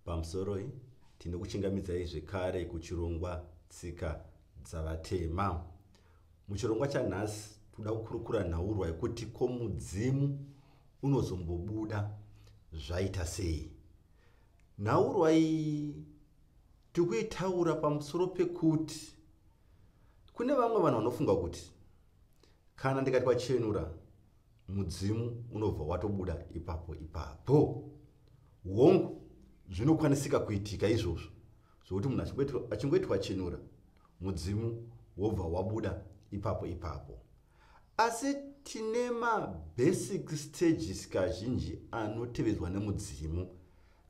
Pamusoroi, tinokuchingamidzai zvekare kuchirongwa Tsika Dzavatema. Muchirongwa chanhasi, tinoda kukurukura nhaurwa yekuti ko mudzimu unozombobuda zvaita sei. Nhaurwa iyi tiri kuitaura pamusoro pekuti kune vamwe vanhu vanofunga kuti kana ndikati wachenura mudzimu unobva watobuda ipapo ipapo hongu zvinokwanisika kuitika izvozvo zvokuti munhu achingoiti wachenura mudzimu wobva wabuda ipapo ipapo asi tine mabasic stages kazhinji anotevedzwa nemudzimu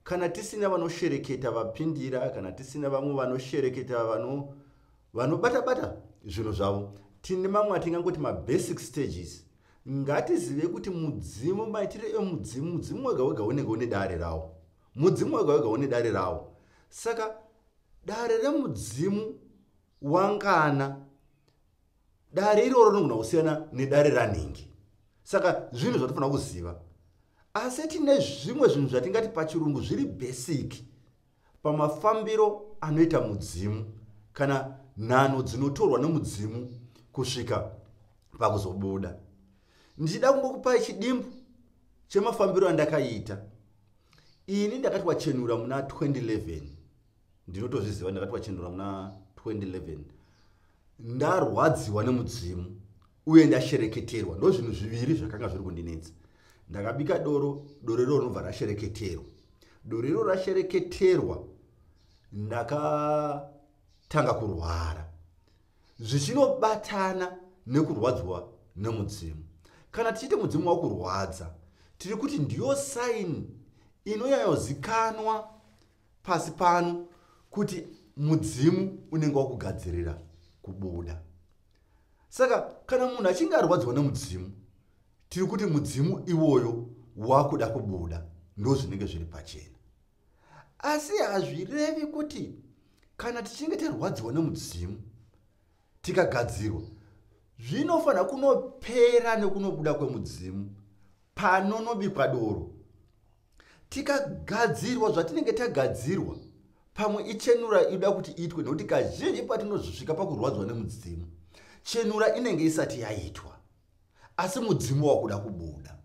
kana tisina vanoshereketa vapindira kana tisina vamwe vanoshereketa vano vanobatabata zvinhu zvavo tine mamwe atingangoti mabasic stages ngatizive kuti mudzimu maitiro emudzimu mudzimu wega wega unenge une dare rawo mudzimu wega wega une dare rawo saka dare remudzimu wangana dare iroro rinogona kusiyana nedare ranhingi saka zvinhu zvatofanira kuziva asi tine zvimwe zvinhu zvatingati pachirungu zviri basic pamafambiro anoita mudzimu kana nhano dzinotorwa nomudzimu kusvika pakuzobuda ndichida kungokupai chidimbu chemafambiro andakaita ini ndakati wachenura muna 2011 ndinotozviziva ndakati wachenura muna 2011 ndarwadziwa nemudzimu uye ndashereketerwa ndo zvinhu zviviri zvakanga zviri kundinetsa ndakabika doro doro iroro rinobva rashereketerwa doro iroro rashereketerwa ndakatanga kurwara zvichinobatana nekurwadzwa nemudzimu kana tichiite mudzimu wakurwadza tiri kuti ndiyo saini inonyanyozikanwa pasi pano kuti mudzimu unenge wakugadzirira kubuda saka kana munhu achinge arwadziwa nemudzimu tiri kuti mudzimu iwoyo wakuda kubuda ndo zvinenge zviri pachena asi hazvirevi kuti kana tichinge tarwadziwa nemudzimu tikagadzirwa zvinofanira kunopera nekunobuda kwemudzimu panonobikwa doro tikagadzirwa zvatinenge tagadzirwa pamwe ichenura inoda kuti iitwe nekuti kazhinji patinozosvika pakurwadzwa nemudzimu chenura inenge isati yaitwa asi mudzimu wakuda kubuda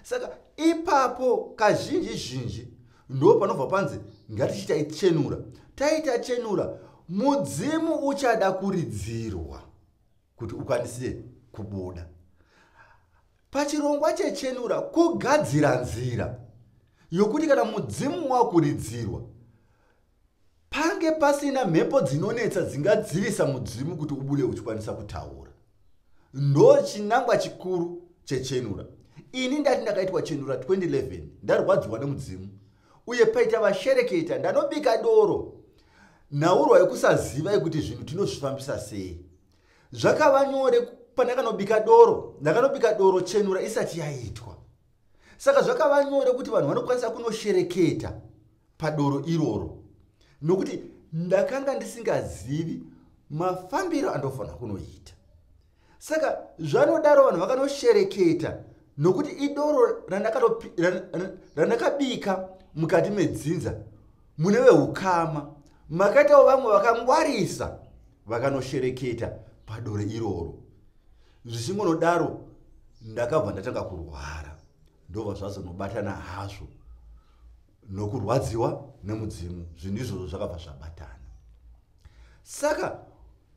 saka ipapo kazhinji zhinji ndo panobva panzi ngatichiita ichenura taita chenura mudzimu uchada kuridzirwa kuti ukwanise kubuda Pachirongwa chechenura kugadzira nzira yokuti kana mudzimu wakuridzirwa pange pasina mhepo dzinonetsa dzingadzivisa mudzimu kuti ubude uchikwanisa kutaura ndo chinangwa chikuru chechenura ini ndati ndakaitwa chenura 2011 ndarwadziwa nemudzimu uye paita vashereketa ndanobika doro nhaurwa yekusaziva yekuti zvinhu tinozvifambisa sei zvakava nyore pandakanobika doro ndakanobika doro chenura isati yaitwa saka zvakava nyore kuti vanhu vanokwanisa kunoshereketa padoro iroro nokuti ndakanga ndisingazivi mafambiro andofanira kunoita saka zvanodaro vanhu vakanoshereketa nokuti idoro randakabika mukati medzinza mune veukama makaitawo vamwe vakangwarisa vakanoshereketa padore iroro zvichingonodaro ndakabva ndatanga kurwara ndobva zvazonobatana hazvo nokurwadziwa nemudzimu zvinhu izvozvo zvakabva zvabatana saka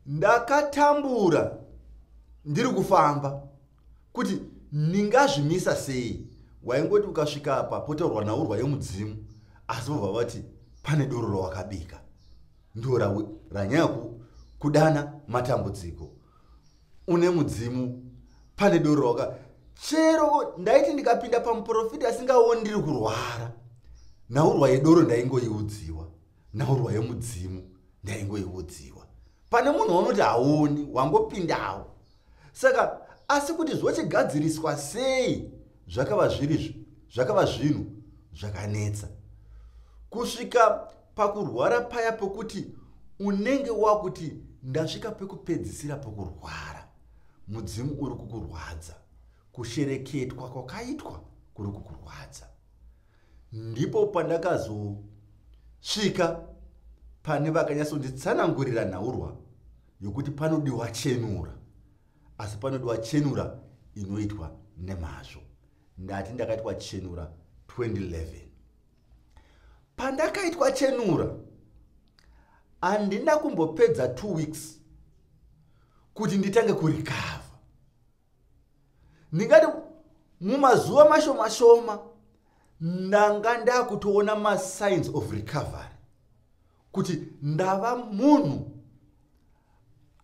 ndakatambura ndiri kufamba kuti ndingazvimisa sei waingoti ukasvika apa potorwa naurwa yemudzimu asi vobva vati pane doro rawakabika ndo ranyaya kudana matambudziko une mudzimu pane doro rawaka chero ndaiti ndikapinda pamuprofita asingaoni ndiri kurwara naurwa yedoro ndaingoiudziwa nhaurwa yemudzimu ndaingoiudziwa pane munhu waunoti haoni wangopindawo saka asi kuti zvochigadziriswa sei zvakava zviri zvakava zvinhu zvakanetsa kusvika pakurwara paya pokuti unenge wakuti ndasvika pekupedzisira pokurwara mudzimu uri kukurwadza kushereketwa kwakaitwa kuri kukurwadza ndipo pandakazosvika pane vakanyatsonditsanangurira nhaurwa yokuti panodiwa chenura asi panodiwa chenura inoitwa nemazvo ndati ndakaitwa chenura 2011 pandakaitwa chenura handina kumbopedza two weeks kuti nditange kurikava ndingati mumazuva mashoma shoma ndanga ndakutoona masigns of recovery kuti ndava munhu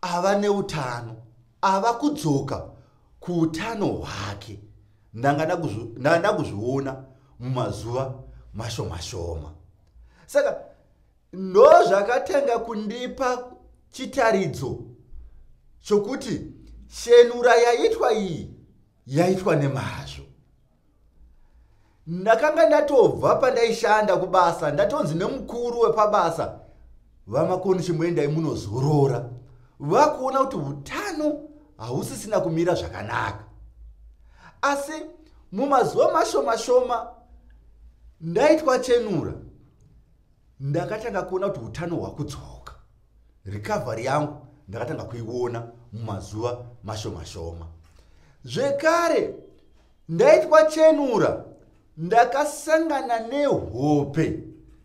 ava neutano ava kudzoka kuutano hwake ndanga ndakuzviona mumazuva mashoma shoma saka Ndozvakatanga kundipa chitaridzo chokuti shenura yaitwa iyi yaitwa nemazvo. Ndakanga ndatobva pandaishanda kubasa ndatonzi nemukuru wepabasa vamakoni chimwendai munozorora vakuona kuti utano hausisina kumira zvakanaka asi mumazuva mashoma shoma ndaitwa chenura ndakatanga kuona kuti utano hwakudzoka recovery yangu ndakatanga kuiona mumazuva mashomashoma zvekare ndaitwa chenura ndakasangana nehope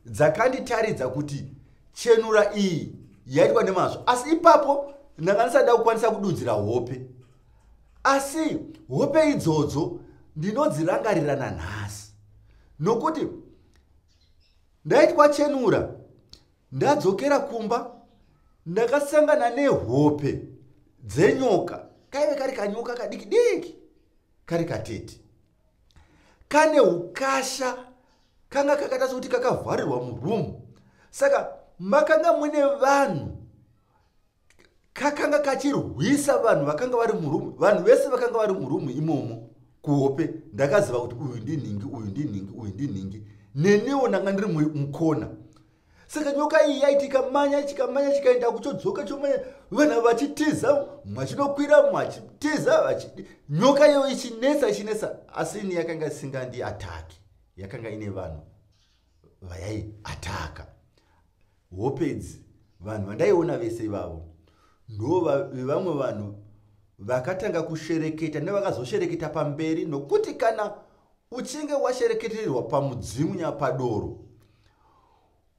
dzakanditaridza kuti chenura iyi yaitwa nemazvo asi ipapo ndanga ndisada kukwanisa kududzira hope asi hope idzodzo ndinodzirangarirana nhasi nokuti ndaitwa chenura ndadzokera kumba ndakasangana nehope dzenyoka kaive kari kanyoka kadiki diki kari katete kane ukasha kanga kakaita sokuti kakavharirwa murumu saka makanga mune vanhu kakanga kachirwisa vanhu vakanga vari murumu vanhu vese vakanga vari murumu imomo kuhope ndakaziva kuti uyu ndinhingi uyu ndinhingi uyu ndinhingi nenewo ndanga ndiri mukona saka nyoka iyi yaiti ikamanya chikamanya chikaenda kuchodzoka chomanya vana vachitiza mwachinokwira mwachitiza vachidi nyoka iyo ichinetsa ichinetsa asi ini yakanga isingandi ataki yakanga ine vanhu vayai ataka hopedzi vanhu vandaiona vese ivavo ndovevamwe vanhu vakatanga kushereketa nevakazoshereketa pamberi nokuti kana uchinge washereketererwa pamudzimu nyapadoro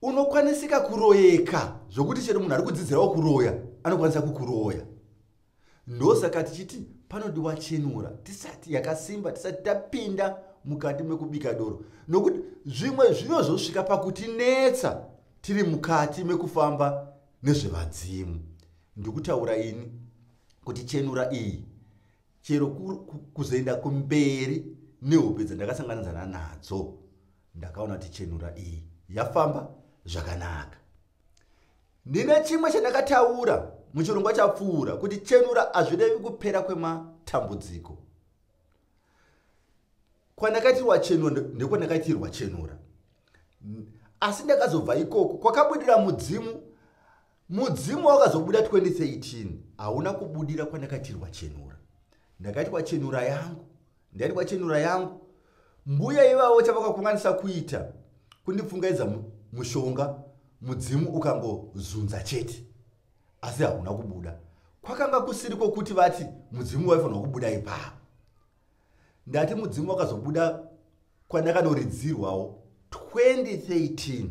unokwanisika kuroyeka zvokuti chero munhu ari kudzidzirawo kuroya anokwanisa kukuroya ndosaka tichiti panodiwa chenura tisati yakasimba tisati tapinda mukati mekubika doro nokuti zvimwe zvinozosvika pakutinetsa tiri mukati mekufamba nezvevadzimu ndikutaura ini kuti chenura iyi chero kuzoenda kumberi nehope dzandakasanganidzana nadzo ndakaona kuti chenura iyi yafamba zvakanaka Ndine chimwe chandakataura muchirongwa chapfuura kuti chenura hazvirevi kupera kwematambudziko. Kwandakaitirwa chenura ndekwandakaitirwa chenura. Asi ndakazobva ikoko kwakabudira mudzimu mudzimu wakazobuda 2013 hauna kubudira kwandakaitirwa chenura. Ndakaitirwa chenura yangu Ndani kwachenura yangu. Mbuya ivavo chavakakunganisa kuita kundipfungaidza mushonga mudzimu ukangozunza chete. Asi hauna kubuda. Kwakanga kusiri kwokuti vati mudzimu waifanirwa kubuda ipapo. Ndati mudzimu wakazobuda kwandakanoridzirwawo 2013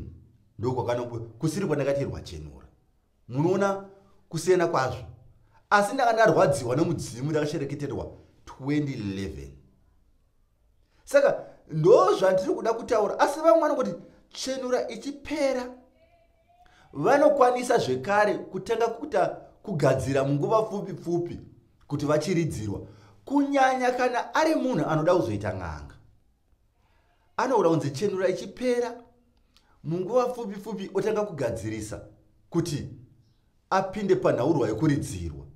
ndokwakanokusiri kwandakatirwa chenura. munoona kusiyana kwazvo asi ndanga ndarwadziwa nemudzimu ndakashereketerwa 2011 saka ndo zvandiri kuda kutaura asi vamwe vanokuti chenura ichipera vanokwanisa zvekare kutanga kuita kugadzira munguva pfupi pfupi kuti vachiridzirwa kunyanya kana ari munhu anoda kuzoita n'anga anoora kunzi chenura ichipera munguva pfupi pfupi otanga kugadzirisa kuti apinde panhaurwa yokuridzirwa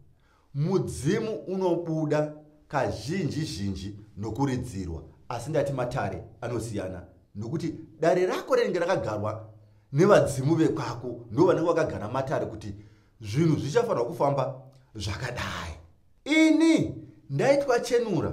mudzimu unobuda kazhinji zhinji nokuridzirwa asi ndati matare anosiyana nokuti dare rako rinenge rakagarwa nevadzimu vekwako ndo vanenge vakagara matare kuti zvinhu zvichafanirwa kufamba zvakadai ini ndaitwa chenura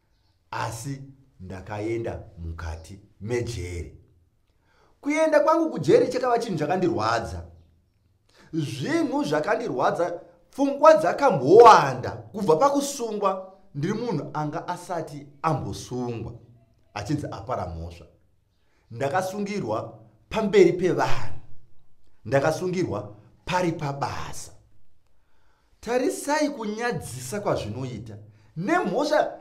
asi ndakaenda mukati mejeri kuenda kwangu kujeri chakava chinhu chakandirwadza zvinhu zvakandirwadza pfungwa dzakambowanda kubva pakusungwa ndiri munhu anga asati ambosungwa achinzi apara mhosva ndakasungirwa pamberi pevanhu ndakasungirwa pari pabasa tarisai kunyadzisa kwazvinoita nemhosva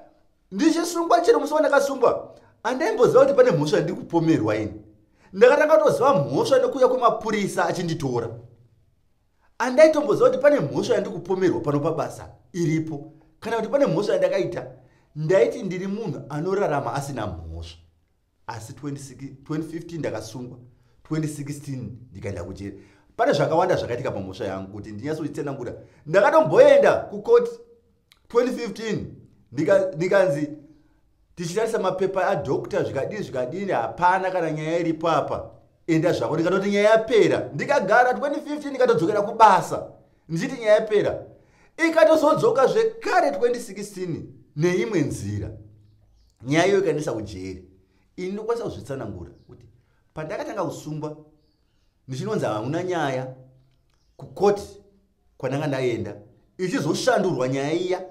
ndichisungwa chero musi wandakasungwa andaimboziva kuti pane mhosva ndiri kupomerwa ini ndakatanga kutoziva mhosva nekuuya kwemapurisa achinditora andaitomboziva kuti pane mhosva yandiri kupomerwa pano pabasa iripo kana kuti pane mhosva yandakaita ndaiti ndiri munhu anorarama asina mhosva asi 2015 ndakasungwa 2016 ndikaenda kujeri pane zvakawanda zvakaitika pamhosva yangu kuti ndinyatsoitsenangura ndakatomboenda kukoti 2015 ndikanzi nika tichitarisa mapepa adokta zvikadii zvikadini hapana kana nyaya iripo apa enda zvako ndikatoti nyaya yapera ndikagara 2015 ndikatodzokera kubasa ndichiti nyaya yapera ikatozodzoka zvekare 2016 neimwe nzira nyaya iyo ikandiisa kujeri ini ndokwanisa kuzvitsanangura kuti pandakatanga kusungwa ndichinonzi hamuna nyaya kukoti kwandanga ndaenda ichizoshandurwa nyaya iya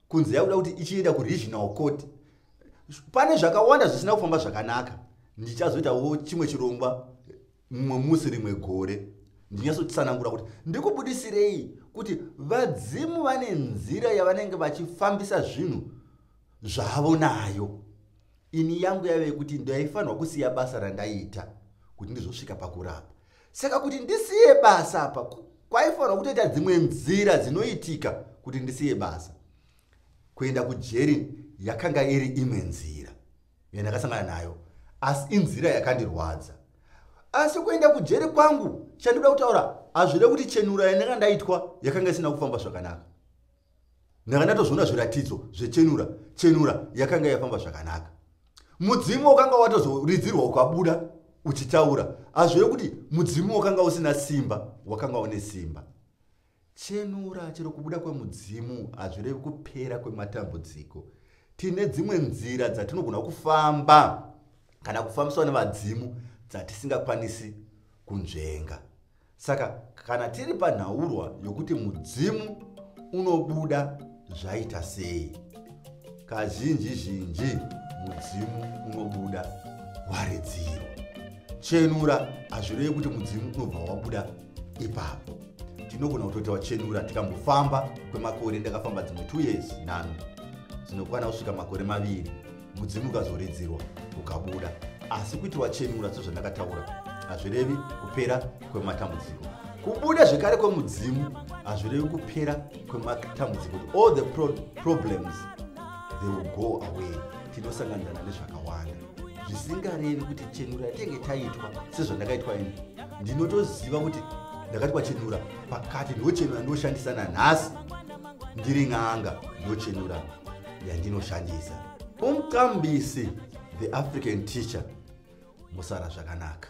kunzi yakuda kuti ichienda kuregional court pane zvakawanda zvisina kufamba zvakanaka ndichazoitawo chimwe chirongwa mumwe musi rimwe gore ndinyatsotsanangura kuti ndikubudisirei kuti vadzimu vane nzira yavanenge vachifambisa zvinhu zvavo nayo ini yangu yave yekuti ndaifanirwa kusiya basa randaiita kuti ndizosvika pakurapa saka kuti ndisiye basa apa kwaifanirwa kutoita dzimwe nzira dzinoitika kuti ndisiye basa kuenda kujeri yakanga iri imwe nzira yandakasangana nayo asi inzira yakandirwadza asi kuenda kujeri kwangu chandida kutaura hazvide kuti chenura yandanga ndaitwa yakanga isina kufamba zvakanaka ndanga ndatozviona zviratidzo zvechenura chenura yakanga yafamba zvakanaka mudzimu wakanga watozoridzirwa ukabuda uchitaura hazvide kuti mudzimu wakanga usina simba wakanga une simba Chenura, chero kubuda kwemudzimu hazvirevi kupera kwematambudziko. Tine dzimwe nzira dzatinogona kufamba kana kufambiswa nevadzimu dzatisingakwanisi kunzvenga. Saka kana tiri panhaurwa yokuti mudzimu unobuda zvaita sei kazhinji zhinji mudzimu unobuda waridziro chenura hazvirevi kuti mudzimu unobva wabuda ipapo tinogona kutoita wachenura tikambofamba kwemakore ndakafamba dzimwe two years nhano dzinokwana kusvika makore maviri mudzimu ukazoridzirwa ukabuda asi kuti wachenura sezvandakataura hazvirevi kupera kwematambudziko kubuda zvekare kwemudzimu hazvirevi kupera kwematambudziko all the pro problems they will go away tinosanganirana nezvakawanda zvisingarevi kuti chenura yatenge taitwa sezvandakaitwa ini ndinotoziva kuti ndakati kwachenura pakati ndochenura ndoshandisa nanhasi ndiri n'anga ndochenura yandinoshandisa umqambisi the african teacher musara zvakanaka